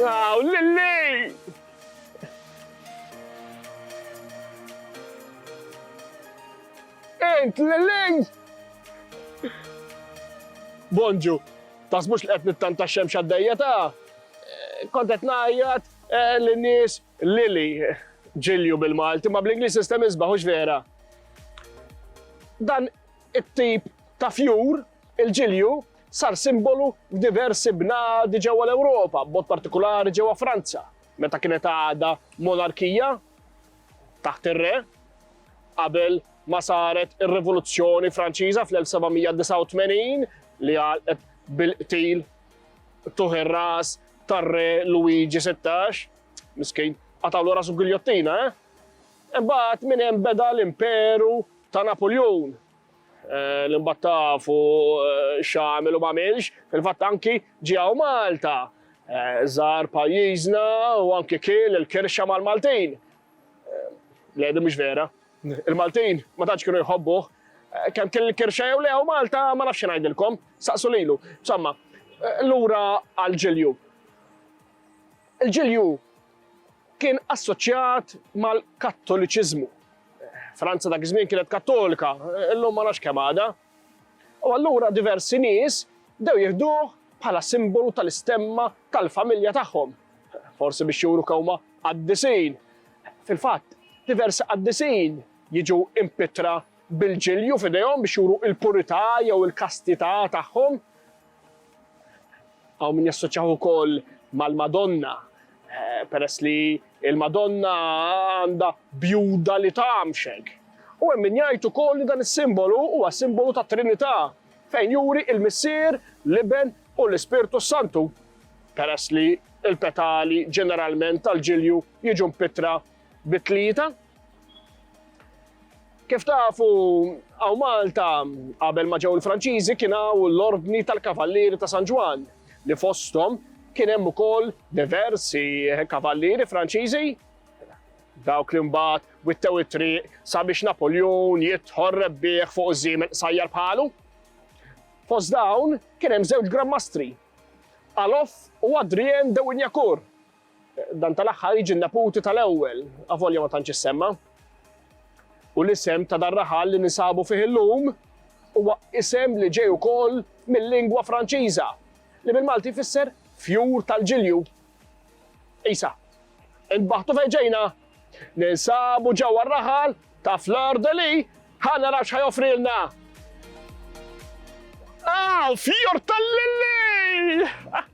Wow, Lilli! Int, Lilli! Bonġu, tasbux li qed nittanta xemx għaddejja ta' eh, kontet najjat eh, l-nies Lili ġilju bil-Malti, ma bl-Inglis sistem izbaħux vera. Dan It-tip ta' fjur, il-ġilju, sar simbolu f'diversi bnadi ġewwa l-Ewropa, b'mod partikulari ġewwa Franza, meta kienet għadha monarkija taħt ir-re, qabel ma saret ir-Rivoluzzjoni Franċiża fl-1789 li għalqet bil-qtil tuħ ir-ras tar-re Luigi Sittax, miskin, qatgħulu rasu b'giljottina, eh? Imbagħad minn hemm beda l-Imperu Ta' Napuljun, li mbagħad tafu x'għamel u m'għamilx, fil-fatt anki ġie hawn Malta, żar pajjiżna u anki kiel il-kirxa mal-Maltin. Le, din mhux vera. Il-Maltin ma tantx kienu jħobbuh. Kemm kiel il-kirxa jew le hawn Malta ma nafx xi ngħidilkom, saqsu lilu. Insomma, lura għall-ġilju. Il-ġilju Kien assoċjat mal-Kattoliċiżmu. Franza dak iż-żmien kienet Kattolika, illum ma nafx kemm għadha. U allura diversi nies bdew jieħduh bħala simbolu tal-istemma tal-familja tagħhom. Forsi biex juru kewma qaddisin. Fil-fatt, diversi qaddisin jiġu impittra bil-ġilju f'idejhom biex juru l-purità jew il-kastità tagħhom. Hawn min jassoċjaħ ukoll mal-Madonna, peress li l-Madonna għandha bjuda li tgħammxek. U hemm min jgħid ukoll li dan is-simbolu huwa simbolu tat-Trinità, fejn juri l-Missier, l-Iben u l-Ispirtu s-Santu, peress li l-petali ġeneralment tal-ġilju jiġu mpittra bit-tlieta. Kif tafu, hawn Malta qabel ma ġew il-Franċiżi kien hawn l-Ordni tal-Kavallieri ta' San Ġwann li fosthom kien hemm ukoll diversi kavallieri Franċiżi dawk li mbagħad wittew it-triq sabiex Napoljun jidħol rebbieħ fuq iż-żiemel qsajjar bħalu. Fost dawn kien hemm żewġ Gran Mastri, Alof u Adrien de Wignacourt, Dan tal-aħħar jiġi n-neputi tal-ewwel, avolja ma tantx issemma. U l-isem ta' dar-raħal li ninsabu fih illum huwa isem li ġej ukoll mil-lingwa Franċiża, li bil-Malti jfisser fjur tal-ġilju. Isa, intbaħtu fejn ġejna, ninsabu ġewwa r-raħal ta' Fleur de Lis, ħa naraw x'ħa joffrilna. Ah, fjur tal-lilli!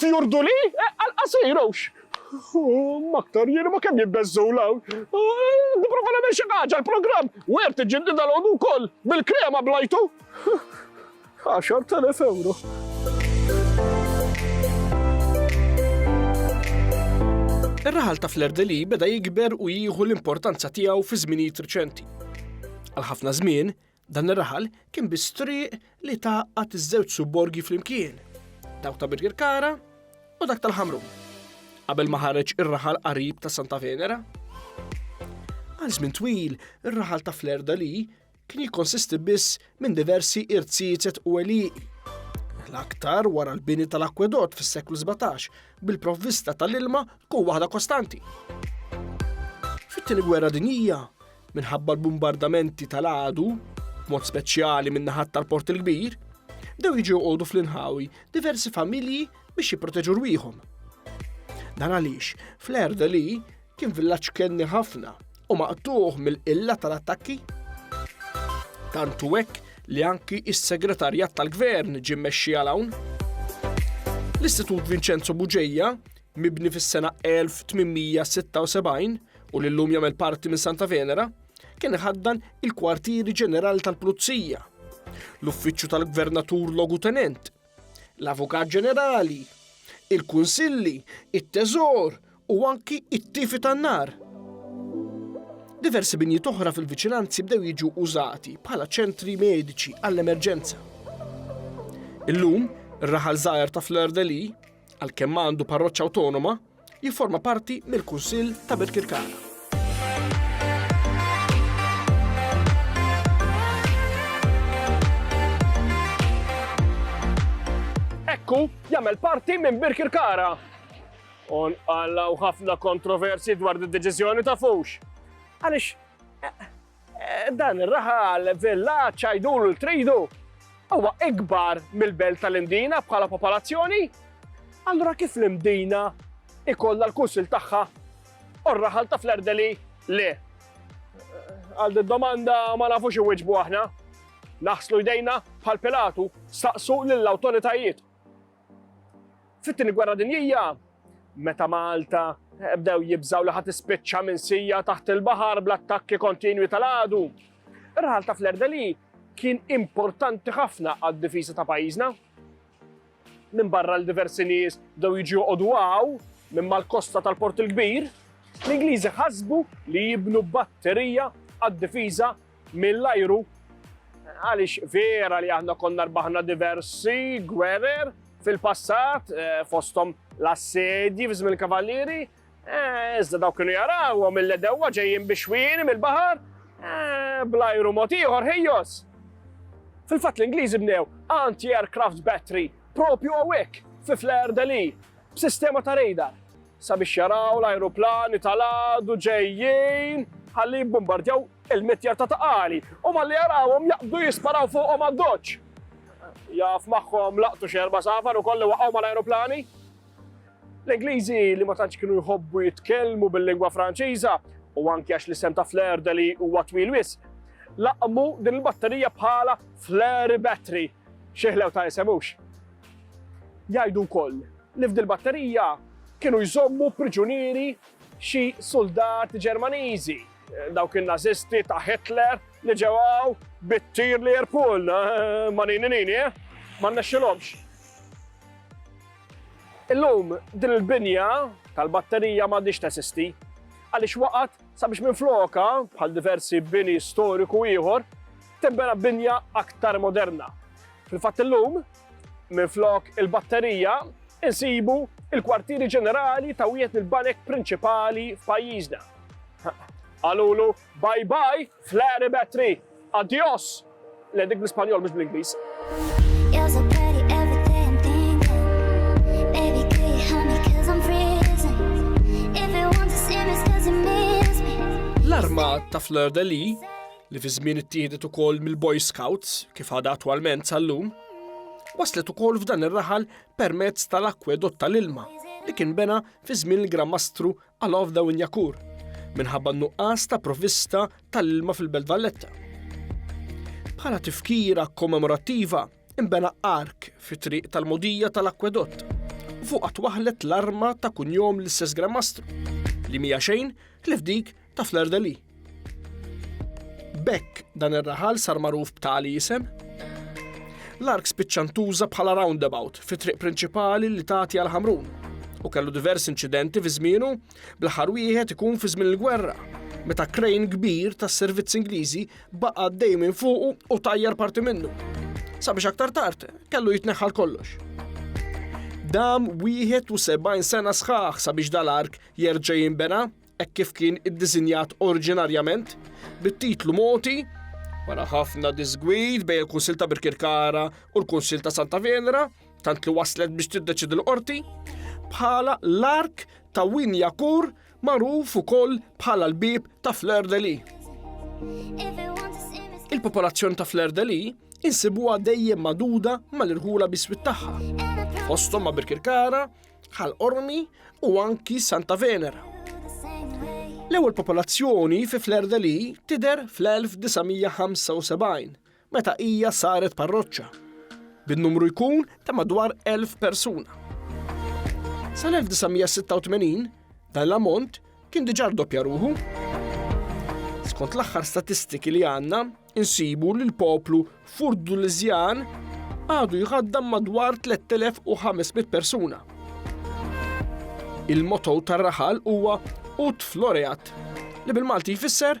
Fjurduli? Għall-qasir hux! Humm aktar jien imma kemm jibbeżżgħu 'l hawn! Nipprova nagħmel xi ħaġa, l-programm Wert iġġidded dalgħodu wkoll, bil-krema blajtu! Għaxart elef ewro! Ir-raħal ta' Fleur-de-Lis beda jikber u jieħu l-importanza tiegħu fi żminijiet riċenti. Għal ħafna żmien, Dan ir-raħal kien biss triq li tgħaqqad iż-żewġ subborgi flimkien, dawk ta' Birkirkara u dak tal-Ħamrun, qabel ma ħareġ ir-raħal qarib ta' Santa Venera. Għal żmien twil, ir-raħal ta' Flerdali kien jikkonsisti biss minn diversi irziezet u għelieqi, l-aktar wara l-bini tal-akwedott fis-seklu 17, bil-provvista tal-ilma tkun waħda kostanti. Fit-Tieni Gwerra Dinjija, minħabba l-bumbardamenti tal-għadu, b'mod speċjali min-naħat tal-Port il-Kbir, bdew jiġu joqogħdu fl-inħawi diversi familji biex jipproteġu rwieħhom. Dan għaliex fl-erda li kien villaġġ kenni ħafna u maqtuħ mill-qilla tal-attakki. Tantu hekk li anki is-segretarjat tal-gvern ġie mexxi għal hawn. L-Istitut Vincenzo Buġeja, mibni fis-sena 1876, u li llum jagħmel parti minn Santa Venera, kien iħaddan il-kwartieri ġenerali tal-Pulizija, l-uffiċċju tal-Gvernatur Logutenent, l-Avukat Ġenerali, il-Kunsilli, it-Teżor u anki it-tifi tan-nar. Diversi binjiet oħra fil-viċinanzi bdew jiġu użati bħala ċentri mediċi għall-emerġenza. Illum, ir-raħal żgħar ta' Fleur de Lis Għalkemm għandu parroċċa awtonoma, jifforma parti mill-Kunsill ta' Birkirkara. Ekku jagħmel parti minn Birkirkara. On għallaw ħafna kontroversi dwar id-deċiżjoni ta' fux. Għaliex eh, Dan ir-raħal villaġġ għidulu li tridu huwa ikbar mill-belt tal-Imdina bħala popolazzjoni. Allura kif l-Imdina ikollha l-kunsil tagħha u r-raħal ta' Flerdeli le? Għal din domanda ma nafux iwiġbu aħna. Naħslu jdejna bħal Pilatu saqsu lill-awtoritajiet. Fit-Tieni Gwerra Dinjija, meta Malta bdew jibżgħu li ħa tispiċċa minsija taħt il-baħar bl-attakki kontinwi tal-għadu, ir-raħal ta' Flerdeli kien importanti ħafna għad-difiża ta' pajjiżna. Minn barra l diversi nies bdew jiġu joqogħdu għaw minn mal-kosta tal-Port il-Kbir, l-Ingliżi ħasbu li jibnu batterija għad-difiża mill-ajru għaliex vera li aħna konna rbaħna diversi gwerer fil-passat eh, fosthom l-assedji f'żmien il-kavallieri, eh, iżda dawk kienu jarawhom mill-edewwa ġejjin biex wini mill-baħar eh, bl-ajru mod ieħor ħejjos. Fil-fatt l-Ingliżi bnew anti-aircraft battery propju għawek fi Flair Deli b'sistema ta' radar. sabiex jaraw l-ajruplani tal-għadu ġejjin ħalli jibbumbardjaw il-mitjar ta' Taqali u malli jarawhom jaqbdu jisparaw fuqhom għad-doċċ. Jaf magħhom laqtu xi erba' safar ukoll li waqgħu mal-ajruplani. L-Ingliżi li ma tantx kienu jħobbu jitkellmu bil-lingwa Franċiża u anki għax l-isem ta' flare deli huwa twil wis, laqmu din il-batterija bħala flare battery. Xieħlew ta' isemux. Jgħidu wkoll li f'dil batterija kienu jżommu priġunieri xi suldati Ġermaniżi, dawk in-Nażisti ta' Hitler li ġew hawn bit-tir Learpul, ma' nini nini, eh? Ma rnexxilhomx. Illum din il-binja tal-batterija m'għadhiex teżisti għaliex waqgħet sabiex minflokha, bħal diversi bini storiku ieħor, tinbena binja aktar moderna. Fil-fatt illum, Minflok il-batterija, insibu il-kwartieri ġenerali ta' wieħed mill-banek prinċipali f'pajjiżna. Qalulu bye bye flare battery, adios! Le dik bl-Ispanjol mhux bl-Ingliż. L-arma ta' Fleur de Lis li fi żmien ittieħdet ukoll mill-Boy Scouts kif għadha attwalment sal-lum, waslet ukoll f'dan ir-raħal permezz tal-akwedott tal-ilma li kien bena fi żmien il-Gran Mastru Alof Dawin Jakur minħabba nuqqas ta' provvista tal-ilma fil-Belt Valletta. Bħala tifkira kommemorattiva, Inbena ark fit-triq tal-mogħdija tal-akwedott u fuqha twaħħlet l-arma ta' kunjom l-istess Gramastru li mija xejn ħlief dik ta' Fleur de Lis. B'hekk dan ir-raħal sar magħruf b'tali isem. L-ark spiċċa ntuża bħala roundabout fit-triq prinċipali li tagħti għal Ħamrun u kellu diversi inċidenti fi żmienu bl-aħħar wieħed ikun fi żmien il-gwerra meta krejn kbir tas-servizz Ingliżi Baqa' għaddej minn fuqu u tajjar parti minnu. Sabiex aktar tard kellu jitneħħal kollox. Dam 71 sena sħaħ sabiex dal-ark jerġa' jinbena hekk kif kien iddisinjat oriġinarjament bit-titlu moti wara ħafna disgwid bejn il-Kunsil ta' Birkirkara u l-Kunsil ta' Santa Venera tant li waslet biex tiddeċidi l-qorti bħala l-ark ta' Winjakur Magħruf ukoll bħala l-bieb ta' Fleur-de-Lis. Il-popolazzjoni ta' Fleur-de-Lis insibuha dejjem magħduda mal-irħula biswit tagħha. Fosthom ma' Birkirkara, Ħal Qormi u anki Santa Venera. L-ewwel popolazzjoni fi Fleur-de-Lis tidher fl-1975 meta hija saret parroċċa, bin-numru jkun ta' madwar 1,000 persuna. Sal-1986 dan l-ammont kien diġà rdoppja ruħu. Skont l-aħħar statistiki li għandna, insibu li l-poplu Furdulizjan għadu jħaddam madwar 3500 persuna. Il-motto tar-raħal huwa Ut Floreat, li bil-Malti jfisser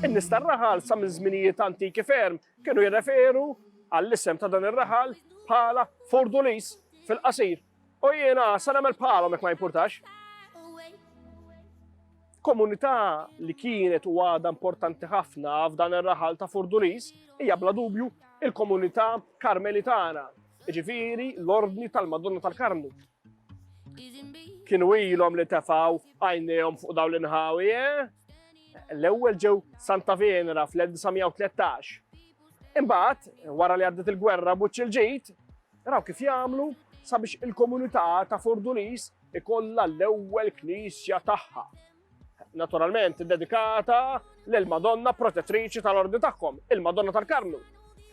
In-nies tar-raħal sa minn żminijiet antiki ferm kienu jirreferu għall-isem ta' dan ir-raħal bħala Fordulis fil-qasir. U jiena sa nagħmel bħalhom jekk ma jimpurtax. Komunità li kienet u għadha importanti ħafna f'dan ir-raħal ta' Fordulis hija bla dubju il-komunità Karmelitana, ġifiri l-Ordni tal-Madonna tal-Karmnu. Kienu ilhom li tefaw għajnejhom fuq dawn l-inħawi, eh? L-ewwel ġew Santa Venera fl-1913. Imbagħad, wara li għaddet il-gwerra buċċ il-ġid, raw kif jagħmlu sabiex il-komunità ta' Fordulis ikollha l-ewwel knisja tagħha. Naturalment dedikata lil Madonna protettriċi tal-ordi tagħhom, il-Madonna tal-Karmnu.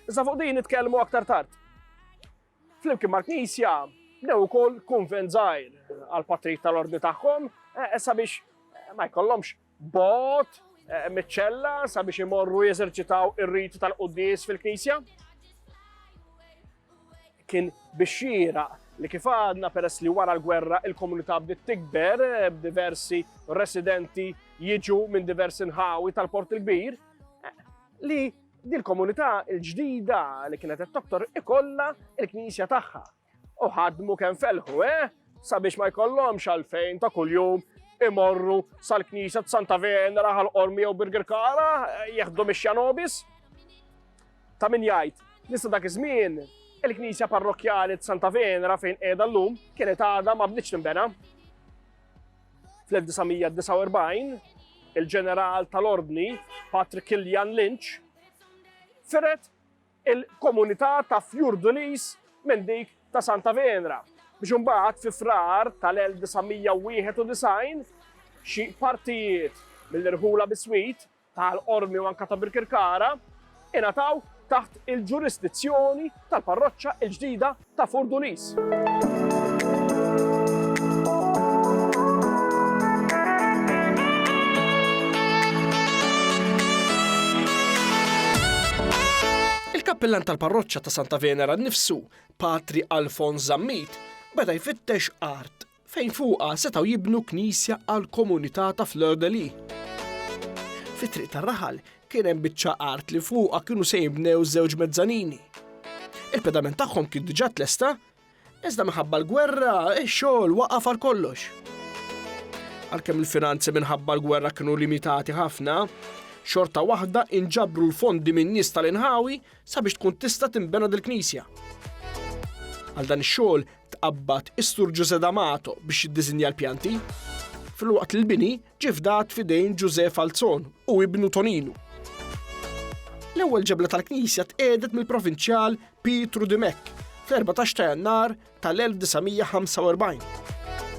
Iżda fuq din nitkellmu aktar tard. Flimkien mal-Knisja bnew ukoll kunvent żgħir għall-patrijiet tal-ordni tagħhom eh, sabiex eh, ma jkollhomx bot eh, miċ-ċella sabiex imorru jeżerċitaw ir-riti tal-quddies fil-Knisja. Kien bixxira li kif għadna peress li wara l-gwerra il-komunità bdiet tikber eh, b'diversi residenti jiġu minn diversi nħawi tal-Port il-Kbir eh, li Dil komunità l-ġdida li kienet qed toktor ikollha l-knisja tagħha. U ħadmu kemm felħu, eh? Sabiex ma jkollhomx għalfejn ta' kuljum imorru sal-knisja t-Santa Venera għal qormi jew Birger Kara, eh, jeħdu mix-xanobis. Ta' min jgħid, nista dak iż-żmien il-knisja parrokjali t-Santa Venera fejn qiegħda llum kienet għadha ma bdiċ tinbena. Fl-1949, il-Ġeneral tal-Ordni Patrick Killian Lynch firet il-komunità ta' Fjurdulis minn dik ta' Santa Venra biex imbagħad fi Frar tal-1991 xi partijiet mill-irħula biswit tal-Qormi u anke ta' Birkirkara ingħataw taħt il-ġurisdizzjoni tal-parroċċa l-ġdida ta' Furdulis. Il-kappillan tal-parroċċa ta' Santa Venera nnifsu, Patri Alfons Zammit, beda jfittex art fejn fuqha setgħu jibnu knisja għall-komunità ta' Fleur-de-Lys. Fi Triq tar-Raħal kien hemm biċċa art li fuqha kienu se jinbnew żewġ mezzanini. Il-pedament tagħhom kien diġà tlesta, iżda minħabba l-gwerra x-xogħol waqaf għal kollox. Għalkemm il-finanzi minħabba l-gwerra kienu limitati ħafna, xorta waħda inġabru l-fondi minn nies tal-inħawi sabiex tkun tista' tinbena dil-knisja. Għal dan ix-xogħol tqabbad is-Sur Ġużè D'Amato biex jiddiżinja l-pjanti, filwaqt li l-bini ġie fdat f'idejn Ġużè Falzon u ibnu Toninu. L-ewwel ġebla tal-knisja tqiegħdet mill-provinċjal Pietru Dimech fl-14 ta' Jannar tal-1945.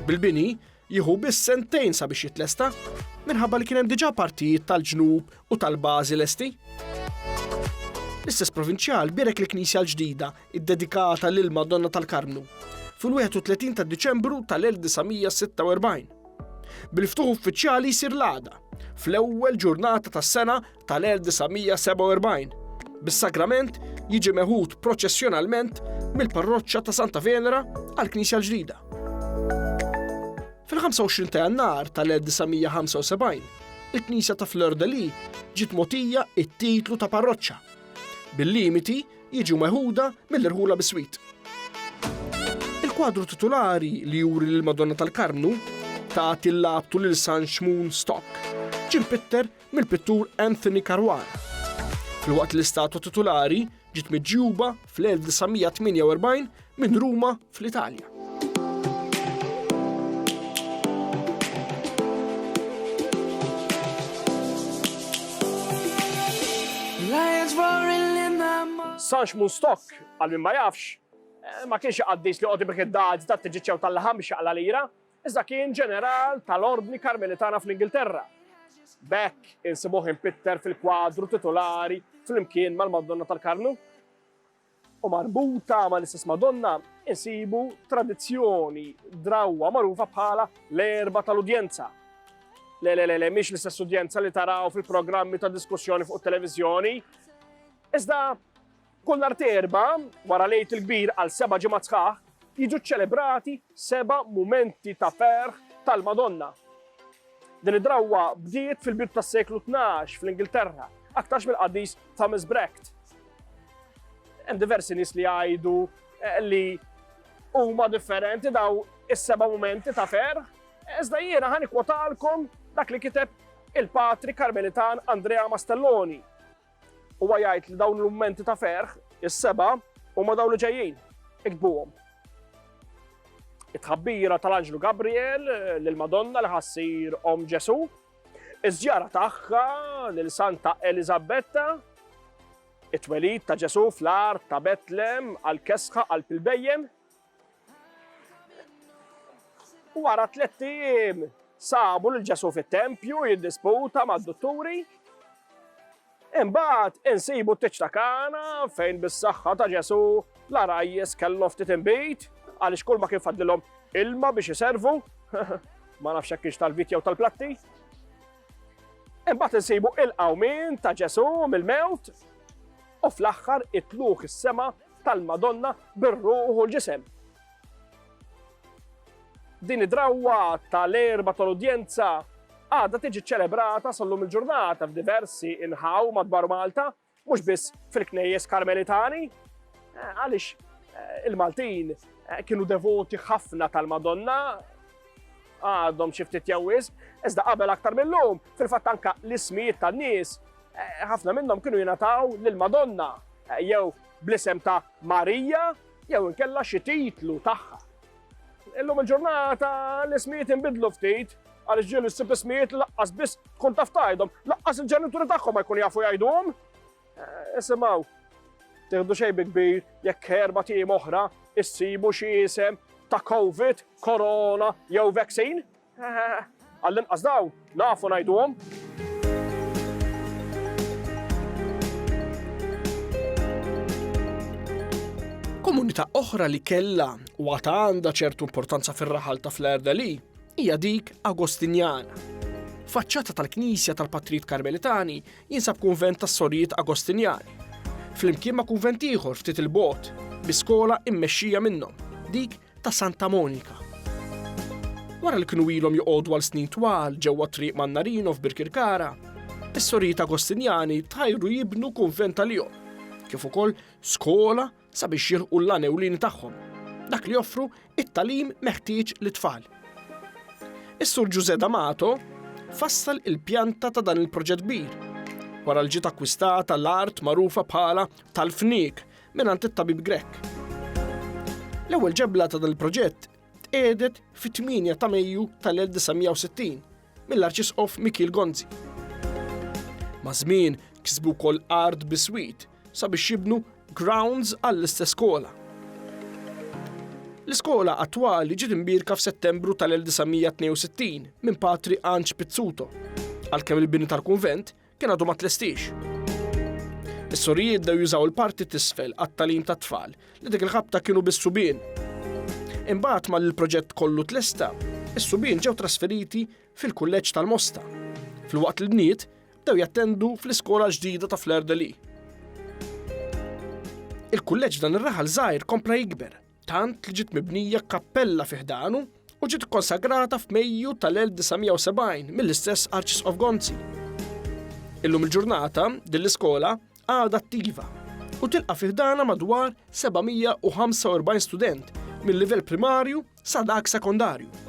Bil-bini jieħu biss sentejn sabiex jitlesta minħabba li kien hemm diġà partijiet tal-ġnub u tal-bażi lesti. L-istess provinċjal bierek il-knisja l-ġdida iddedikata lil Madonna tal-Karmnu fil-31 ta' Diċembru tal-1946. Bil-ftuħ uffiċjali jsir l-għada fl-ewwel ġurnata tas-sena tal-1947 bis-sagrament jiġi meħud proċessjonalment mill-parroċċa ta' Santa Venera għal Knisja l-ġdida. Fil-25 ta' jannar tal-1975, il-Knisja ta' Fleur de Lis ġiet motija it-titlu ta' parroċċa bil-limiti jiġu meħuda mill-irħula biswit. Il-kwadru titulari li juri lil Madonna tal-Karmnu ta' tillabtu lil San Xmun Stock ġim pitter mill-pittur Anthony Carwar. Filwaqt l-istatwa titulari ġiet miġjuba fl-1948 minn Ruma fl-Italja. Sarx mun stok, għal min ma jafx, eh, ma kienx għaddis li għoddi bek id-dad ta' t-ġiċċew tal-laħam xaqla lira, iżda kien ġeneral tal-ordni karmelitana fl-Ingilterra. Bekk insibuħ impitter fil-kwadru titolari fl-imkien mal-Madonna tal-Karnu. u marbuta mal-istess Madonna, insibu tradizzjoni drawwa magħrufa bħala l-Erba' tal-Udjenza. Le, le, le, le, mhix l-istess udjenza li taraw fil-programmi ta' diskussjoni fuq it-televiżjoni. Iżda kull nhar terba, wara lejt il-kbir għal seba' ġimgħat sħaħ, jiġu ċċelebrati seba' mumenti ta' ferħ tal-Madonna. Din id-drawwa bdiet fil-bidu tas-seklu tnax fl-Ingilterra, aktarx mill-qaddis Thomas Brecht. Hemm diversi nies li jgħidu eh, li huma differenti daw is-seba' mumenti ta' ferħ, iżda jiena ħani kwotalkom dak li kiteb il-patri Karmelitan Andrea Mastelloni Huwa jgħid li dawn l-mumenti ta' ferħ, is-seba, huma dawn li ġejjin. Iktbuhom. It-tħabbira tal-Anġlu Gabriel lil Madonna li ħassir Om Ġesu, iż-żjara tagħha lil Santa Elizabetta, it-twelid ta' Ġesu fl-art ta' Betlem għal kesħa għal pilbejjem, Wara tlett ijiem sabu lil Ġesu fit-tempju jiddisputa mad-dutturi. Imbagħad insibu t-tiċ ta' Kana fejn bis-saħħa ta' Ġesu l-arajjes kellhom ftit inbid għaliex kull ma kien fadlilhom ilma biex iservu. ma nafx hekk kienx tal-vit jew tal-platti. Imbagħad insibu il-qawmin ta' Ġesu mill-mewt u fl-aħħar it-tluk is-sema tal-Madonna bir-ruħ u l-ġisem. Din id-drawwa tal-erba tal-udjenza għadha tiġi ċċelebrata sal-lum il-ġurnata f'diversi inħaw madwar Malta, mhux biss fil-knejjes karmelitani, eh, għaliex eh, il-Maltin eh, kienu devoti ħafna tal-Madonna, għadhom xi ftit jew wisq, iżda qabel aktar mill-lum, fil-fatt anka l-ismijiet tan-nies, eh, ħafna minnhom kienu jingħataw lil Madonna eh, jew bl-isem ta' Marija jew inkella xi titlu tagħha. Illum il-ġurnata l-ismijiet inbidlu ftit, għaliex ġieli s-sib ismijiet laqqas biss kun taf tajdhom, laqqas il-ġenituri tagħhom ma jkun jafu jgħidhom. Isimgħu, teħdu xejn bi kbir jekk erba' tim oħra issibu xi isem ta' COVID, korona jew vaccine? Għall-inqas dawn nafu ngħiduhom. Komunità oħra li kellha u għata għandha ċertu importanza fir-raħal ta' fl-erda li hija dik Agostinjana. Faċċata tal-Knisja tal-Patrit Karmelitani jinsab kunvent tas-sorijiet Agostinjani, flimkien ma' kunvent ieħor ftit 'il bogħod, bi skola mmexxija minnhom, dik ta' Santa Monika. Wara li kienu ilhom joqogħdu għal snin twal ġewwa t-triq Mannarino f'Birkirkara, is-sorijiet Agostinjani tħajru jibnu kunvent għalihom, kif ukoll skola sabiex jilħqu l-għan ewlieni tagħhom, dak li joffru t-tagħlim meħtieġ lit-tfal. Is-Sur Ġużè D'Amato fassal il-pjanta ta' dan il-proġett kbir wara li ġiet akkwistata l-art magħrufa bħala tal-Fniek mingħand it-tabib Grech. L-ewwel ġebla ta' dan il-proġett tqiegħdet fit-8 ta' Mejju tal-1960 mill-Arċisqof Mikiel Gonzi. Maż-żmien kisbu wkoll art biswit sabiex jibnu grounds għall-istess skola. L-iskola attwali ġiet imbierka f'Settembru tal-1962 minn Patri Anġ Pizzuto, għalkemm il-bini tal-kunvent kien għadu ma tlestix. Is-sorijiet dew jużaw il-parti tisfel għat-talim tat-tfal li dik il-ħabta kienu bis-subien. Imbagħad mal il-proġett kollu tlesta, is-subien ġew trasferiti fil-kulleġġ tal-Mosta, fil-waqt li bniet bdew jattendu fl-iskola ġdida ta' Flair de Lee. Il-kulleġġ dan ir-raħal żgħir kompla jikber tant li ġiet mibnija kappella fi ħdanu u ġiet ikkonsagrata f'Mejju tal-1970 mill-istess Arċisqof Gonzi. Illum il-ġurnata din l-iskola għadha attiva u tilqa' fi ħdana madwar 745 student mill-livell primarju sa dak sekondarju.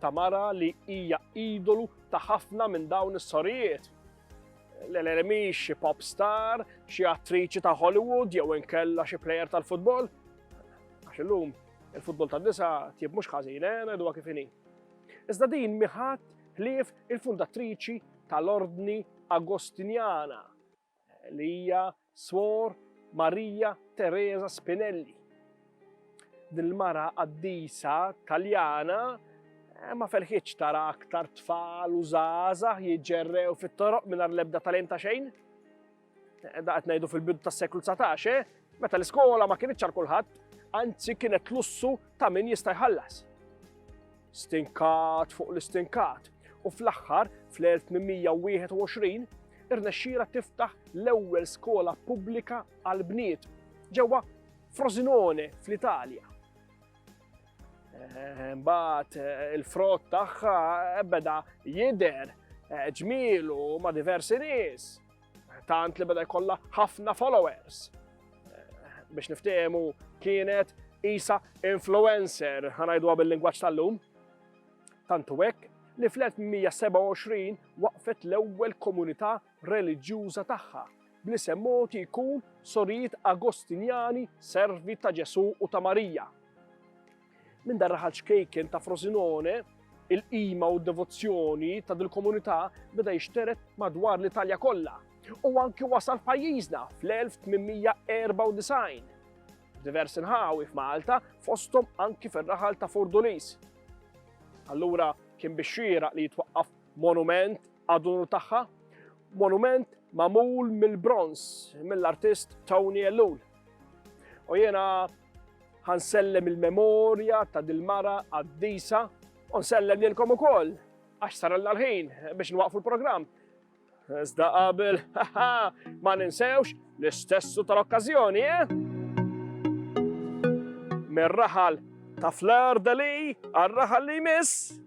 ta' mara li hija idolu ta' ħafna minn dawn is-sorijiet. L-Elena mhix xi pop star, xi attriċi ta' Hollywood jew inkella xi plejer tal-futbol. Għax illum il-futbol ta' nisa tjib mhux ħażin, eh, ngħiduha kif inhi. Iżda din miħat ħlief il-fundatriċi tal-Ordni Agostinjana li hija swor Marija Teresa Spinelli. Din il-mara qaddisa Taljana eh, ma ferħitx tara aktar tfal u żgħażagħ jiġġerrew fit-toroq mingħajr l-ebda talent ta' xejn. Eh, da qed ngħidu fil-bidu tas-seklu 19, eh, meta l-iskola ma kienitx għal kulħadd, anzi kienet lussu ta' min jista' jħallas. Stinkat fuq l-istinkat u fl-aħħar fl-1821 irnexxira tiftaħ l-ewwel skola pubblika għal bniet ġewwa Frosinone fl-Italja. Eh, mbagħad eh, il-frott tagħha beda jidher eh, ġmielu ma' diversi nies. Tant li beda jkollha ħafna followers. Biex niftehmu kienet isa influencer, ħanajdu bil-lingwaġġ tal-lum. Tantu hekk li fl-1927 waqfet l-ewwel komunità reliġjuża tagħha bli semmoti jkun sorijiet Agostinjani servi ta' Ġesu u ta' Marija. Minn dan raħal ċkejken ta' Frosinone, il-qima u d-devozzjoni ta' dil-komunità beda jixteret madwar l-Italja kollha u anki wasal f'pajjiżna fl-1894. Diversi nħawi f'Malta fosthom anki fir-raħal ta' Furdulis. Allura kien biex xieraq li jitwaqqaf monument għad-unur tagħha, monument magħmul mill-bronz mill-artist Tony Ellul. U jiena Ħa nsellem il-memorja ta' dil-mara qaddisa u nsellem lilkom ukoll għax saralna l-ħin biex nwaqfu l-programm. Iżda qabel, ma ninsewx l-istessu tal-okkażjoni, eh? Mir-raħal ta' Fleur de Lee għal-raħal li jmiss.